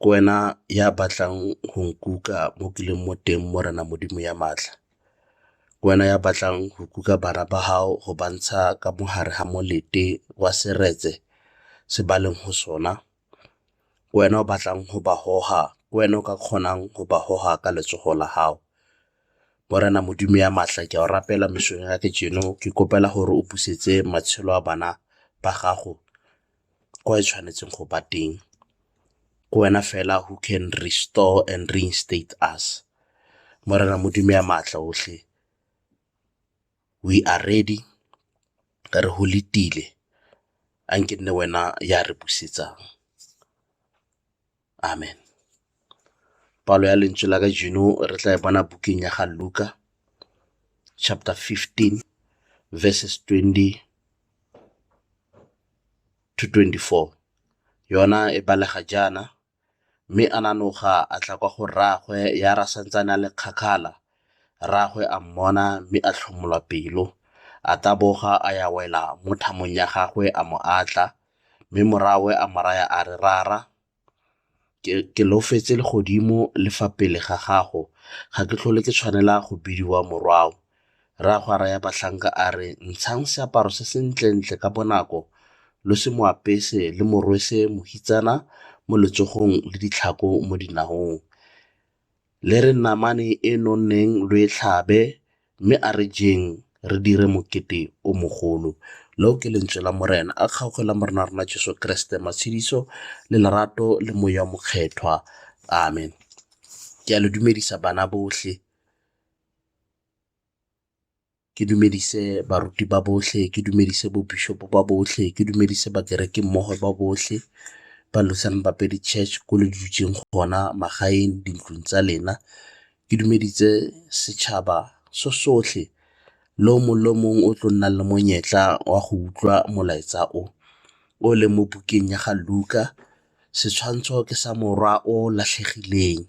Ke wena ya batlang go nkuka mo ke leng mo teng Morena Modimo ya maatla. Ke wena ya batlang go kuka bana ba gago go ba ntsha ka mo gare ga molete wa seretse se ba leng go sona. Ke wena o batlang go ba goga, ke wena o ka kgonang go ba goga ka letsogo la gago. Morena Modimo ya maatla ke a go rapela mosong wa kajeno ke kgopela gore o busetse matshelo a bana ba gago. ko e tshwanetseng go ba teng ke wena fela who can restore and reinstate us. Morena Modimo ya maatla otlhe we are ready re go letile a nke e nne wena ya re busetsang. Amen. Palo ya lentswe la kajeno re tla e bona bukeng ya ga Luka chapter 15 verses 20 to 24. Yona e balega jaana, mme a nanoga a tla kwa go rraagwe ya ra santsane a le kgakhala. Rraagwe a mmona mme a tlhomolwa pelo, a taboga a ya wela mo thamong ya gagwe a mo atla, Mme morwawe a mo raya a re, Rara, ke lofetse legodimo le fa pele ga gago, ga ke tlhole ke tshwanela go bidiwa morwawo. Rragwe a raya batlhanka a re, Ntshang seaparo se sentle-ntle ka bonako lo se mo apese le mo rwese mohitsana mo letsogong le ditlhako mo dinahong. Le re namane e nonneng lo e tlhabe, mme a re jeng re dire mokete o mogolo. Leo ke lentswe la Morena. A kgaoge la Morena wa rona Jesu Keresete matshediso le lerato le moya o mokgethwa, amen. Ke a le dumedisa bana botlhe. ke dumedise baruti ba botlhe, ke dumedise bo bishop ba botlhe, ke dumedise bakereki mmogo ba botlhe ba Lutheran Bapedi Church ko le dutseng gona magaeng, dintlong tsa lena. Ke dumedise setšhaba so sotlhe le o mongwe le o mongwe o tlo nnang le monyetla wa go utlwa molaetsa o o leng mo bukeng ya ga Luka, setshwantsho ke sa morwa o latlhegileng.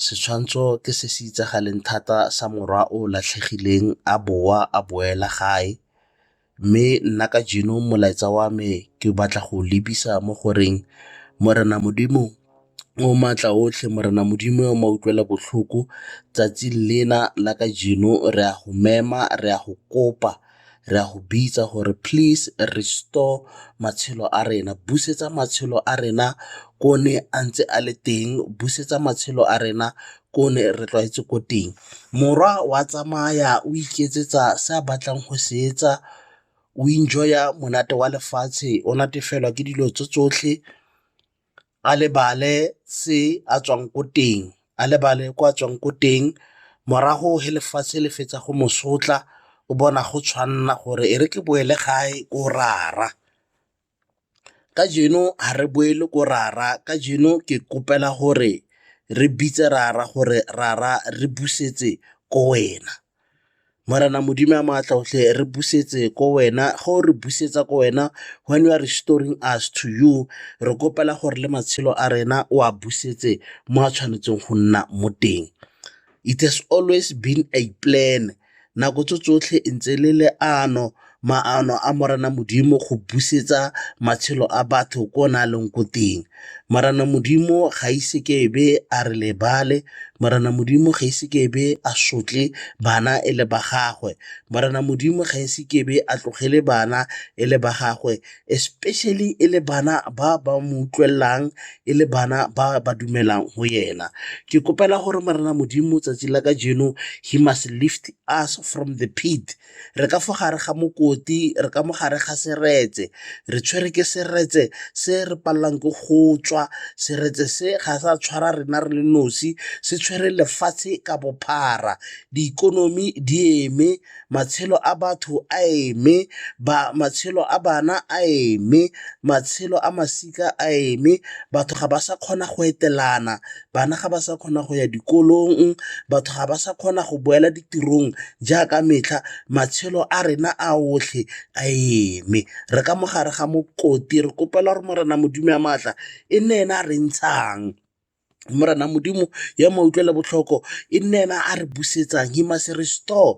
Setshwantsho ke se se itsagaleng thata sa morwa o latlhegileng a boa a boela gae mme nna ka jewa molaetsa wa me ke batla go lebisa mo goreng Morena Modimo o maatla otlhe, Morena Modimo o mautlwela botlhoko 'tsatsi lena la kajeno re a go mema, re a go kopa. Re a go bitsa gore please restore matshelo a rena, busetsa matshelo a rena ko ne a ntse a le teng, busetsa matshelo a rena ko ne re tlwaetse ko teng. Morwa wa tsamaya o iketsetsa se a batlang go se etsa, o enjoy-a monate wa lefatshe, o natefelwa ke dilo tse tsotlhe. a lebale se a tswang ko teng, a lebale ko a tswang ko teng morago ge lefatshe le fetsa go mo sotla o bona go tshwanela gore e re ke boele gae ko rara. Kajeno ga re boele ko rara kajeno ke kgopela gore re bitse rara gore rara re busetse ko wena. Morena Modimo wa maatla otlhe re busetse ko wena, ga o re busetsa ko wena when you are restoring us to you re kgopela gore le matshelo a rena o a busetse mo a tshwanetseng go nna mo teng. It has always been a plan, nako tse tsotlhe ntse le leano. maano a Morena Modimo go busetsa matshelo a batho ko ne a leng ko teng. Morena Modimo ga ise ke ebe a re lebale, Morena Modimo ga ise ke ebe a sotle bana e le ba gagwe, Morena Modimo ga ise ke ebe a tlogele bana e le ba gagwe especially e le bana ba ba mo utlwelelang e le bana ba ba dumelang go ena. Ke kgopela gore Morena Modimo 'tsatsi la kajeno he must lift us from the pit re ka fa gare ga mokoti, re ka mo gare ga seretse, re tshwere ke seretse se re palelwang ke go tswa, seretse se ga sa tshwara rena re le nosi, se tshwere lefatshe ka bophara, diikonomi di eme, matshelo a batho a eme, matshelo a bana a eme, matshelo a masika a eme, batho ga ba sa kgona go etelana, bana ga ba sa kgona go ya dikolong, batho ga ba sa kgona go boela ditirong jaaka metlha, matshelo a rena a otlhe a eme, re ka mo gare ga mokoti, re kgopela gore Morena Modimo wa maatla e nne ena a re ntshang, Morena Modimo ya mautlwela botlhoko e nne ena a re busetsang, he must restore.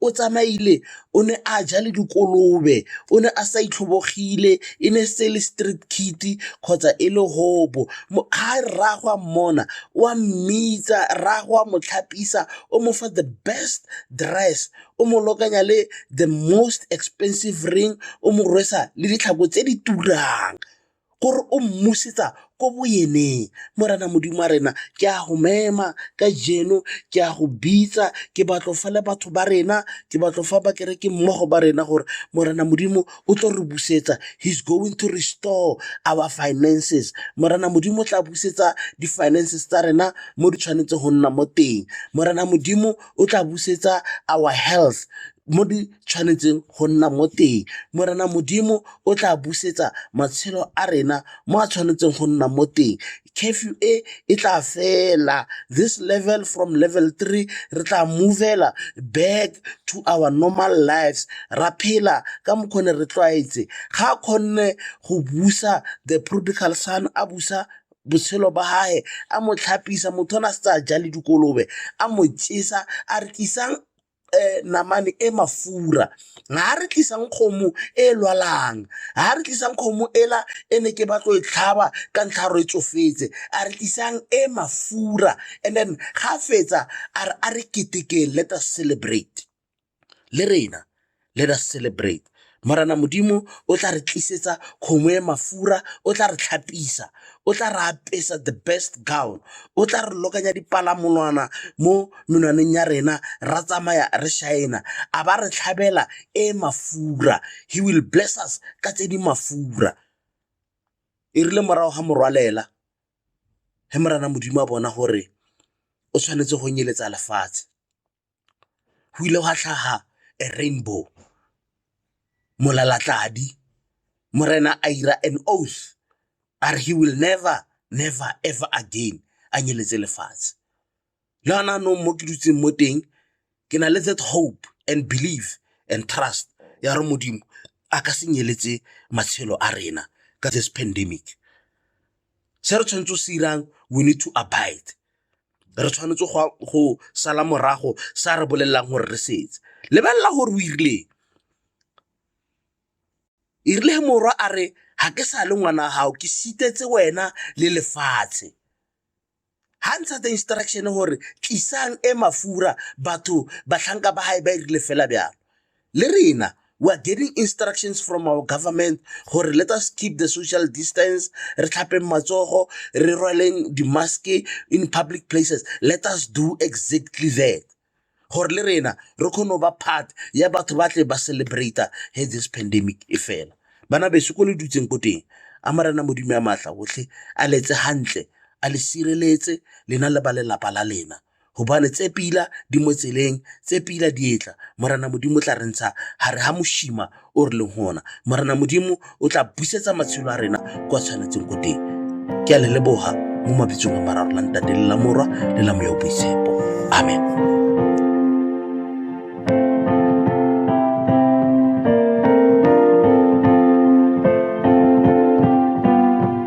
o tsamaile o ne a ja le dikolobe, o ne a sa itlhobogile, e ne e se le street kid kgotsa e le hobo. Ha rraagwe a mmona o a mmitsa, rraagwe o a mo tlhapisa, o mo fa the best dress, o mo lokanya le the most expensive ring, o mo rwesa le ditlhako tse di turang. gore o mmusetsa ko bo eneng, Morena Modimo wa rena ke a go mema kajeno ke a go bitsa ke batlo fa le batho ba rena, ke batlo fa bakereki mmogo ba rena gore Morena Modimo o tlo re busetsa, he is going to restore our finances, Morena Modimo o tla busetsa di-finances tsa rena mo di tshwanetseng go nna mo teng, Morena Modimo o tla busetsa our health mo di. tshwanetseng go nna mo teng. Morena Modimo o tla busetsa matshelo a rena mo a tshwanetseng go nna mo teng. Curfew e e tla fela, this level from level three re tla move-la back to our normal lives, ra phela ka mokgwa o ne re tlwaetse. Ga a kgonne go busa the prodigal son a busa botshelo ba gage, a mo tlhapisa, motho o ne a setse a ja le dikolobe, a mo jesa a re isang namane e mafura, ga re tlisang kgomo e lwalang, ga re tlisang kgomo e la e ne ke batlo e tlhaba ka ntlha ya gore e tsofetse, a re tlisang e mafura and then ga fetsa a re a re ketekeng let us celebrate le rena. let us celebrate. Morena Modimo o tla re tlisetsa kgomo e mafura, o tla re tlhapisa, o tla re apesa the best gown, o tla re lokanya dipalamolwana mo menwaneng ya rena, ra tsamaya re shaena, a ba re tlhabela e mafura. He will bless us ka tse di mafura. E rile morago ga morwalela, he Morena Modimo a bona gore o tshwanetse go nyeletsa lefatshe. go ile gwa tlhaga a rainbow, Molalatladi, Morena a ira an oath a re he will never, never ever again a nyeletse lefatshe. Le gone jaanong mo ke dutseng mo teng ke na le that hope and believe and trust ya gore Modimo a ka se nyeletse matshelo a rena ka this pandemic. Se re tshwanetse go se irang we need to abide, re tshwanetse go sala morago sa re bolelelang gore re setse. Lebelela gore o irileng, erile he morwa a re ga ke sa le ngwana wa gago ke sitetse wena le lefatshe. ga ntsha the instruction gore tlisang e mafura batho batlhanka ba gae ba irile fela bjalo le rena we are getting instructions from our government gore let us keep the social distance re tlhapeng matsogo re rwaleng di-maske in public places let us do exactly that gore le rena re kgone go ba part ya batho ba tle ba celebrate he this pandemic e fela bana beso ko le dutseng ko teng a marena modimo ya maatla otlhe a letse gantle a le sireletse lena le ba lelapa la lena gobane tse pila di mo tseleng tse pila di etla morena modimo tla re ntsha gare ga moshima o re leng gona morena modimo o tla busetsa matshelo a rena kwa tshwanetseng ko teng ke a le leboga mo mabitsong a mararo la ntate le la morwa le la moya o boitshepo amen